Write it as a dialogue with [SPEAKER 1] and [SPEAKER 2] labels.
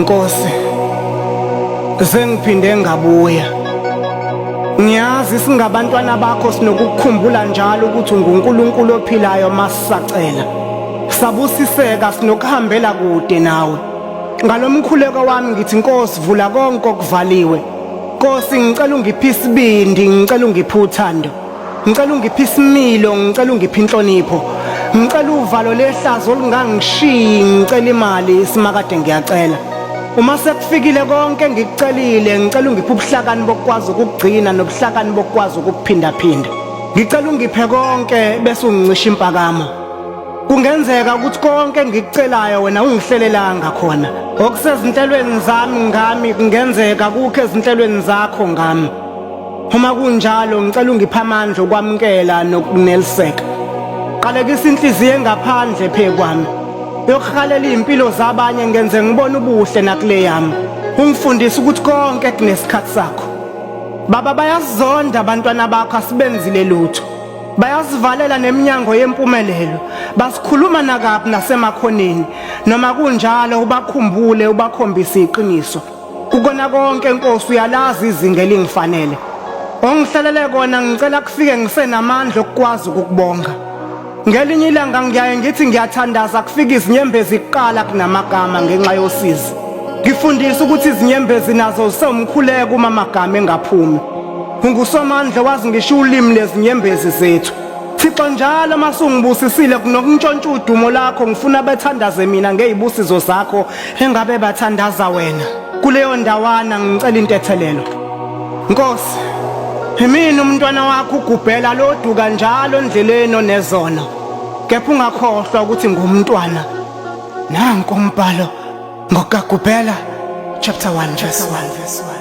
[SPEAKER 1] Nkosi sengiphinde ngabuya ngiyazi singabantwana bakho sinokukukhumbula njalo ukuthi unguNkulunkulu ophilayo masisacela sabusiseka sinokuhambela kude nawe ngalomkhuleko wami ngithi Nkosi vula konke okuvaliwe Nkosi ngicela ungiphise ibindi ngicela ungiphe uthando ngicela ungiphe isimilo ngicela ungiphe inhlonipho ngicela uvalo lehlazo olungangishiyi ngicela imali isimakade ngiyacela uma sekufikile konke ngikucelile ngicela ungiphe ubuhlakani bokukwazi ukugcina nobuhlakani bokukwazi ukuphindaphinda ngicela ungiphe konke bese ungicisha impakamo kungenzeka ukuthi konke engikucelayo wena ungihlelelanga khona okusezinhlelweni zami ngami kungenzeka kukho ezinhlelweni zakho ngami Uma kunjalo ngicela ungiphe amandla okwamukela nokuneliseka. Qalekisa inhliziyo engaphandle phekwami. Yokuhalela izimpilo zabanye ngenze ngibone ubuhle nakule yami. Ungifundisa ukuthi konke kunesikhathi sakho. Baba bayazonda abantwana bakho asibenzile lutho. Bayasivalela neminyango yempumelelo. Basikhuluma nakaphi nasemakhoneni. Noma kunjalo ubakhumbule ubakhombise iqiniso. Kukona konke Nkosi uyalazi izinga elingifanele. Ongihlalele kona ngicela kufike ngisenamandla okukwazi ukukubonga. Ngelinye ilanga ngiyaye ngithi ngiyathandaza kufika izinyembezi kuqala kunamagama ngenxa yosizi. Ngifundisa ukuthi izinyembezi nazo zisewumkhuleko uma amagama engaphumi. Ungusomandla wazi ngisho ulimi lezinyembezi zethu. Thixo njalo masungibusisile kunokuntshontsha udumo lakho ngifuna bethandaze mina ngezibusizo zakho Engabe bathandaza wena kuleyo ndawana ngicela intethelelo. Nkosi, yimina umntwana wakho ugubhela loduka njalo endleleni onezona. Kepha ungakhohlwa ukuthi ngumntwana. Nanko umbhalo ngokagubhela chapter 1 verse 1 verse 1.